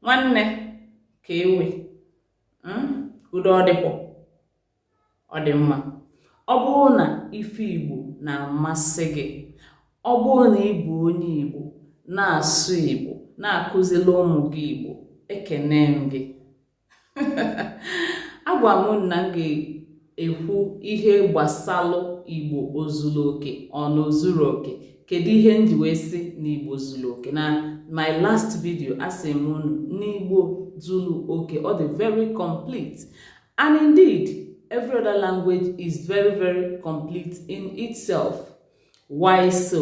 nwanne kee way hmm? udo ọ dịkwa ọ dị mma ọ bụrụ na ife igbo na-amasị gị ọ bụrụ na ị bụ onye igbo na-asụ igbo na-akụziri ụmụ gị igbo ekene m gị agwa m unu na m ga-ekwu ihe gbasalụ igbo o zuru oke ọ na o zurọ oke kedu ihe m ji wee sị na igbo zuru oke na my last video asị m unu na igbo zuru oke ọ dị very complete and indeed every other language is very very complete in itself why so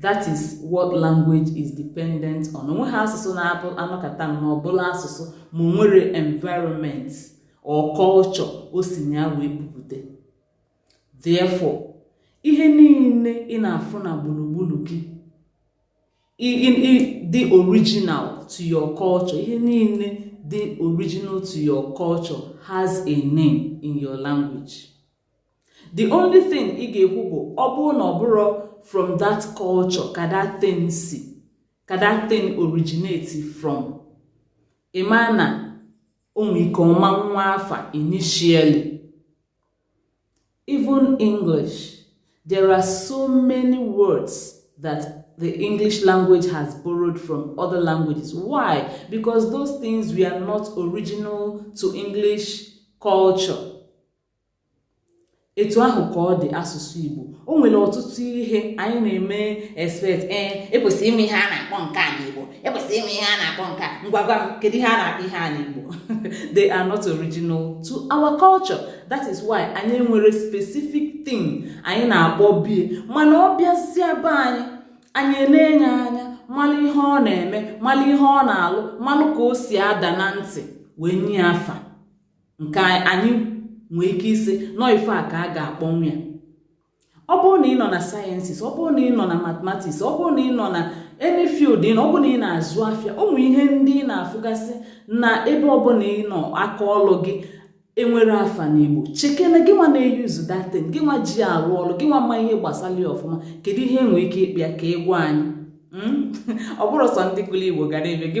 that is what language is dependent on o nweghị asụsụ na-abụ a nọkata na ọ bụlụ asụsụ ma o nwerọ environment or culture o si na ya wee pupụta therefore ihe niile ị na-afụ na gburugburu gị dị original to your culture ihe niile dị original to your culture has a name in your language the only thing ị ga-ekwu bụ ọ bụrụ na ọ bụrọ from that culture ka that thing si ka that thing originate from ị ma na o nwe ike ọ ma nwe afa initially even english there are so many words that the english language has borrowed from other languages why because those things were not original to english culture etu ahụ ka ọ dị asụsụ Igbo o nwere ọtụtụ ihe anyị na-eme expect ee eh, e kwesịrị ịma ihe a na-akpọ nke a n'Igbo e kwesịrị ịma ihe a na-akpọ nke a ngwa gwa m kedu ihe a na-akpọ ihe a n'Igbo they are not original to our culture that is why anyị enwerọ specific thing anyị na-akpọbu ya mana ọ bịazịa be anyị anyị enenee ya anya malụ ihe ọ na-eme malụ ihe ọ na-alụ malụ ka o si ada na ntị wee nye afa nke anyị nwee ike ịsị na ọ ife a ka a ga-akpọnwu ya ọ bụrụ na ị nọ na sciences ọ bụrụ na ị nọ na mathematics ọ bụrụ na ị nọ na any field ị nọ ọ bụrụ na ị na-azụ afịa ụmụ ihe ndị ị na-afụgasị na ebe ọbụla ị nọ aka ọlụ gị enwerọ afa n'igbo chekene gị nwa na-e-use that thing gị nwa ji arụ ọrụ gị nwa ma ihe gbasara ya ọfụma kedu ihe e nwere ike ịkpọ ya ka ị gwa anyị hmm? ọ bụrọ sọ ndị gụrụ igbo gara ebe gị